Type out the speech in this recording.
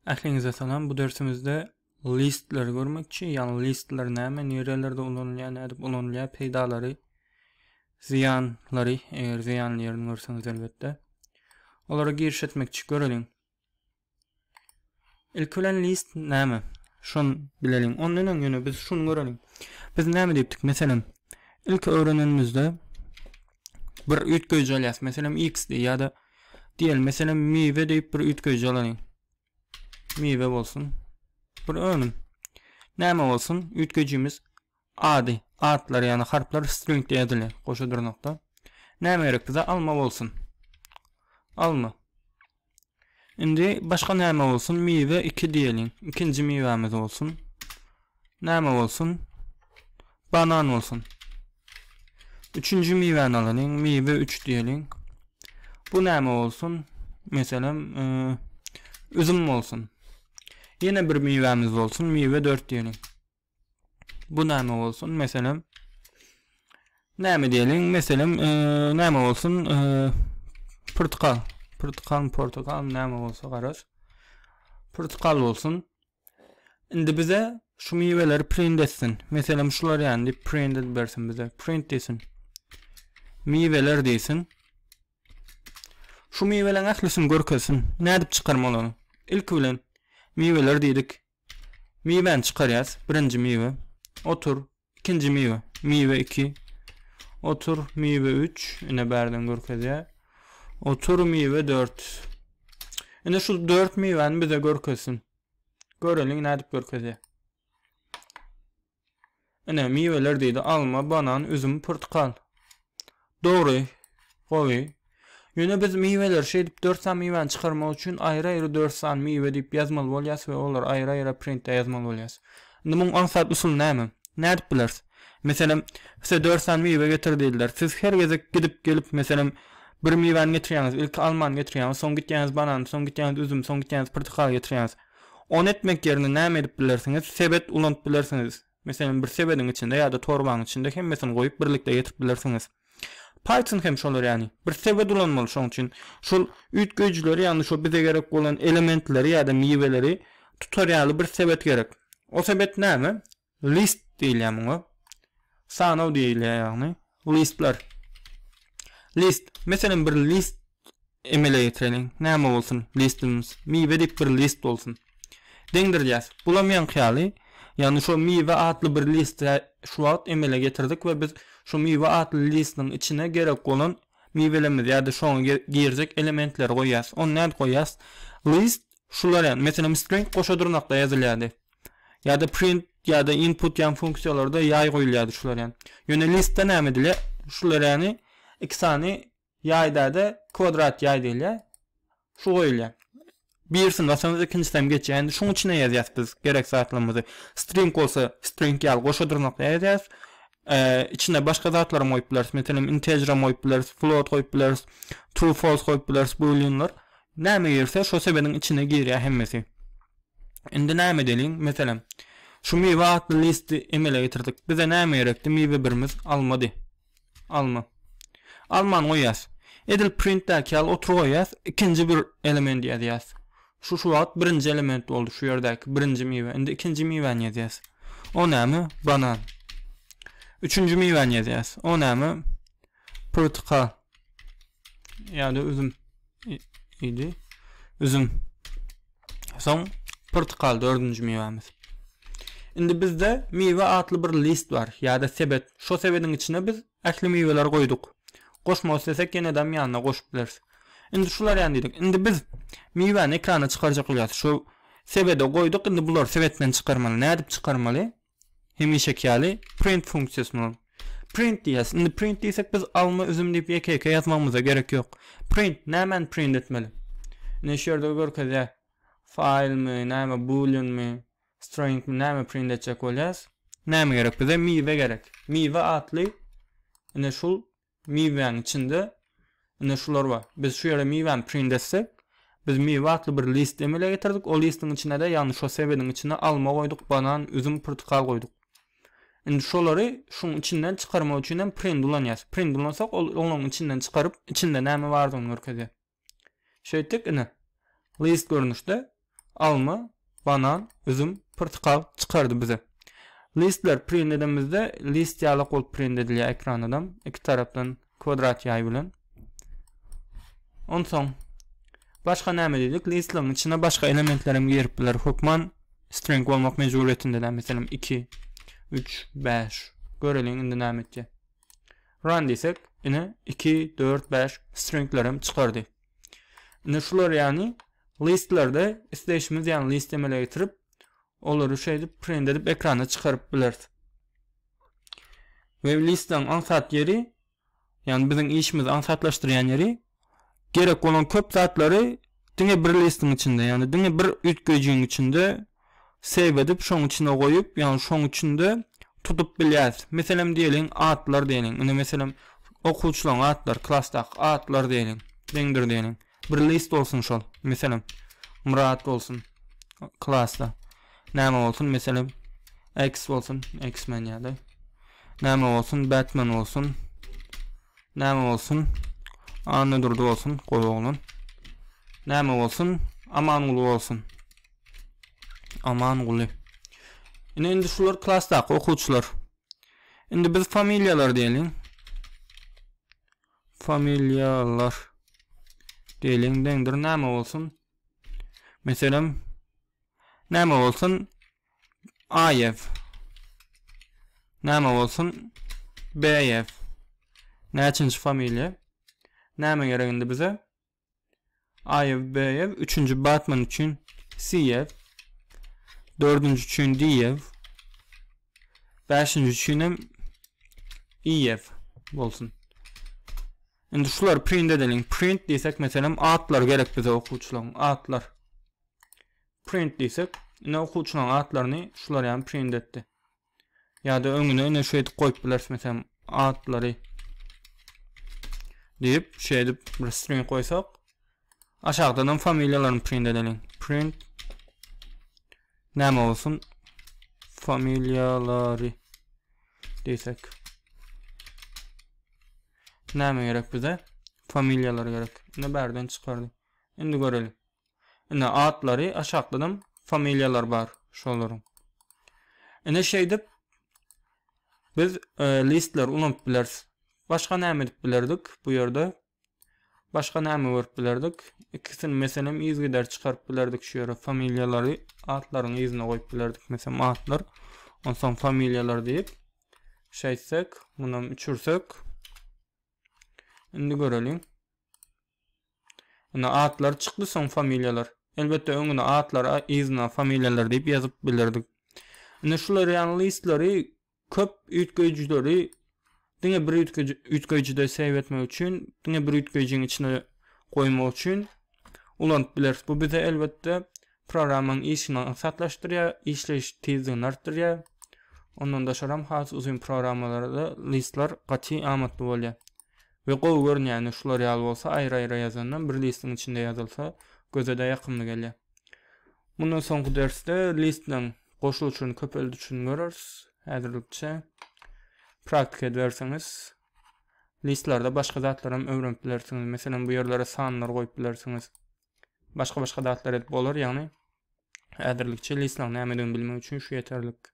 Ähliňize salam. Bu dersimizde listleri görmekçi. Ýagny listler näme, nirelerde ulanylýar, nädip ulanylýar, peýdalary, zyýanlary, eger zyýanly ýerini görseňiz elbetde. Olara giriş etmekçi göreliň. Ilk bilen list näme? Şun bileliň. Ondan öň ýöne biz şuny göreliň. Biz näme diýipdik? Meselem, ilk öwrenenimizde bir üýtgeýji alýas. Meselem, x diýýär ýa-da Diýeli meselem miwe diýip bir üýtgeýji alalyň. Miwe bolsun. Bir önüm. Näme bolsun? Üýtgeýjimiz ady, atlar ýagny harplar stringde ýazyly, goşa dyrnakda. Näme gerek bize? Alma bolsun. Alma. Indi başga näme bolsun? Miwe 2 diýeliň. Ikinji miwämiz bolsun. Näme bolsun? Banan bolsun. Üçünji miwäni alalyň. Miwe üç diýeliň. Bu näme bolsun? Meselem, e, üzüm bolsun. Ýene bir miwämiz bolsun. Miwe dört diýeliň. Bu näme bolsun? Meselem, näme diýeliň? Meselem, e, näme bolsun? E, pyrtykal. Pyrtykal, portakal näme bolsa garaz. Pyrtykal bolsun. Indi bize şu miweleri print etsin. Meselem şular ýany diýip print edip bersin bize. Print diýsin. Miweler diýsin. Şu miweleriň ählisini görkezsin. Nädip çykarma olany? Ilki bilen miweler diýdik. Miwäni çykarýas. Birinji miwe. Otur. Ikinji miwe. Miwe iki. Otur miwe üç. Ine bärden görkezýä. Otur miwe dört. Ine şu dört miwäni bize görkezsin. Göreliň nädip görkezýä. Ine miweler diýdi. Alma, banan, üzüm, pyrtkal. Dogry, gowy. Ýöne biz miweleri şeýdip dört sany miwäni çykarmak üçin aýry-aýry dört sany miwe diýip ýazmaly bolýas we olary aýry-aýra printde ýazmaly bolýas. Indi muň aňsat usuly näme? Nädip bileris? Meselem, size dört sany miwe getir diýdiler. Siz her gezek gidip gelip, meselem, bir miwäni getirýäňiz, ilki almany getirýäňiz, soň gitýäňiz banany, soň gitýäňiz üzüm, soň gitýäňiz pyrtykaly getirýäňiz. Ony etmek ýerine näme edip bilersiňiz? Sebet ulanyp bilersiňiz. Meselem, bir sebediň içinde ýa-da torbaň içinde hemmesini goýup birlikde getirip bilersiňiz. Python hem şolar ýaly. Bir sebet ulanmaly şoň üçin. Şol üýtgeýjileri, ýagny şo bize gerek bolan elementleri ýa-da miweleri tutar ýaly bir sebet gerek. O sebet näme? List diýilýär muňa. Sanaw diýilýär ýagny. Listler. List. Meselem, bir list Emele getireliň. Näme bolsun? Listimiz. Miwe diýip bir list bolsun. Deňdirýäs. Bulam ýaňky ýaly. Ýagny şo miwe atly bir listi şu wagt emele getirdik we biz şu miwe atly listiniň içine gerek bolan miwelerimizi ýa-da şoňa girjek elementleri goýýas. Ony nädip goýýas? List şular ýaly. Meselem string goşa dyrnakda ýazylýardy. Ýa-da print ýa-da input ýan funksiýalarda ýaý goýulýardy şular ýaly. Ýöne listde näme edilýär? Şular ýaly iki sany Ýaýda-da kwadrat ýaý diýilýär. Şu goýulýar. Birisini basaňyz ikinjisi hem geçýär. Indi şuň içine ýazýas biz gerek zatlarymyzy. String bolsa string ýaly goşa dyrnakda ýazýas. Içine başga zatlaram goýup bileris. Meselem integeram goýup bileris, float goýup bileris, true false goýup bileris booleanlar. Näme girse şo sebediň içine girýär hemmesi. Indi näme edeliň? Meselem şu miwe atly listi emele getirdik. Bize näme gerekdi? Miwe birimiz almady. Alma. Almany goýýas. Edil printdäki ýaly otur goýýas, ikinji bir element ýazýas. Şu şu wagt birinji element boldy şu ýerdäki birinji miwe. Indi ikinji miwäni ýazýas. O näme? Banan. Üçünji miwäni ýazýas. O näme? Pyrtyka. Ýa-da üzüm. Idi. Üzüm. Soň portkal dördünji miwämiz. Indi bizde miwe atly bir list bar ýa-da sebet. Şo sebediň içine biz ähli miweleri goýduk. Goşmak islesek ýenedem ýanyna goşup bileris. Indi şular ýany diýdik. Indi biz miwäni ekrana çykarjak bolýas. Şo sebede goýduk. Indi bulary sebetden çykarmaly. Nädip çykarmaly? Hemişeki ýaly print funksiýasyny uraň. Print diýýäs. Indi print diýsek biz alma üzüm diýip ýeke-ýeke ýazmagymyza gerek ýok. Print nämäni print etmeli? Ine şu ýerde görkezýär. Faýlmy, näme booleanmy, stringmi näme print etjek bolýas? Näme gerek bize? Miwe gerek. Miwe atly ine şul Miwäň içinde ine şular bar. Biz şu ýere miwäni print etsek, biz miwe atly bir list emele getirdik. O listiň içine-de, ýagny şo sebediň içine alma goýduk, banan, üzüm, pyrtykal goýduk. Indi şolary şuň içinden çykarmak üçin hem print ulanýarys. Print ulansak, ol olaryň içinden çykaryp, içinde näme bardygyny görkezýär. Şeýtdik, ine, list görnüşde alma, banan, üzüm, pyrtykal çykardy bize. Listler print edemizde list ýalak bolup print edilýär ekranadam iki tarapdan kwadrat ýaý bilen. Onsoň başga näme diýdik? Listligiň içine başga elementler hem girip biler. Hökman string bolmak mejburyýetinde, meselem 2, 3, 5. Göreliň indi näme etjek. Run diýsek, ine 2, 4, 5 stringler hem çykardy. Indi şular ýagny listlerde isleýşimiz ýagny list emele getirip, olary şeýdip print edip ekrana çykaryp bileris. We listlaryň aňsat ýeri, ýagny biziň işimizi aňsatlaşdyrýan ýeri gerek bolan köp zatlary diňe bir listiň içinde, ýagny diňe bir üýtgejiň içinde save edip, şoň içine goýup, ýagny şoň içinde tutup bilýäris. Meselem diýeliň, atlar diýeliň. Indi meselem okuwçylaryň atlary, klasdaky atlar diýeliň. Deňdir diýeliň. Bir list bolsun şol. Meselem Murat bolsun klasda. Näme bolsun? Meselem X bolsun, X-men ýa-da. Näme bolsun? Batman bolsun. Näme bolsun? Annadurdy bolsun, gowy oglan. Näme bolsun? Amanguly bolsun. Amanguly. Ine indi şular klasdaky okuwçylar. Indi biz familiýalar diýeliň. Familiýalar diýeliň deňdir näme bolsun? Meselem näme bolsun? AF näme bolsun BF näçinji familiýa näme gerek indi bize AF BF üçünji Batman üçin CF dördünji üçin DF beşinji üçin hem EF bolsun Indi şular print edelim. Print diýsek meselem atlar gerek bize okuwçylaryň atlar. Print diýsek, ine okuwçylaryň atlaryny şular ýaly print etdi. Ýa-da öňüne ine şeýdip goýup bileris, meselem, atlary diýip, şeýdip bir string goýsak, aşakdan hem familiýalaryny print edeliň. Print näme bolsun? Familiýalary diýsek. Näme gerek bize? Familiýalar gerek. Ine bärden çykardy. Indi görelim. Ine atlary aşakdanam familiýalary bar şolaryň. Ine şeýdip biz listleri ulanyp bileris. Başga näme edip bilerdik bu ýerde? Başga näme görüp bilerdik? Ikisini meselem yzgider çykaryp bilerdik şu ýere familiýalary atlaryň yzyna goýup bilerdik meselem atlar. Onsoň familiýalar diýip şeýtsek, munam üçürsek. Indi göreliň. Indi atlary çykdy soň familiýalar. Elbetde öňüne atlar yzyna familiýalar diýip ýazyp bilerdik. Indi şu L'Oreal listleri köp üýtgeýjileri diňe bir üýtgeýjide save etmek üçin, diňe bir üýtgeýjiň içine goýmak üçin ulanyp bileris. Bu bize elbetde programmaň işini aňsatlaşdyrýar, işleýiş tizligini artdyrýar. Ondan daşaram has uzyn programmalarda listler gaty amatly bolýar. We gowy görünýäni şular ýaly bolsa aýry aýra ýazandan bir listiň içinde ýazylsa gözede ýakymly gelýär. Mundan soňky dersde listleň goşuluşyny köpeldişini göreris. Häzirlikçe praktika ediberseňiz listlerde başga zatlaram öwrenip bilersiňiz. Meselem bu ýerlere sanlar goýup bilersiňiz. Başga başga zatlar edip bolar ýagny häzirlikçe listleň nämedigini bilmek üçin şu ýeterlik.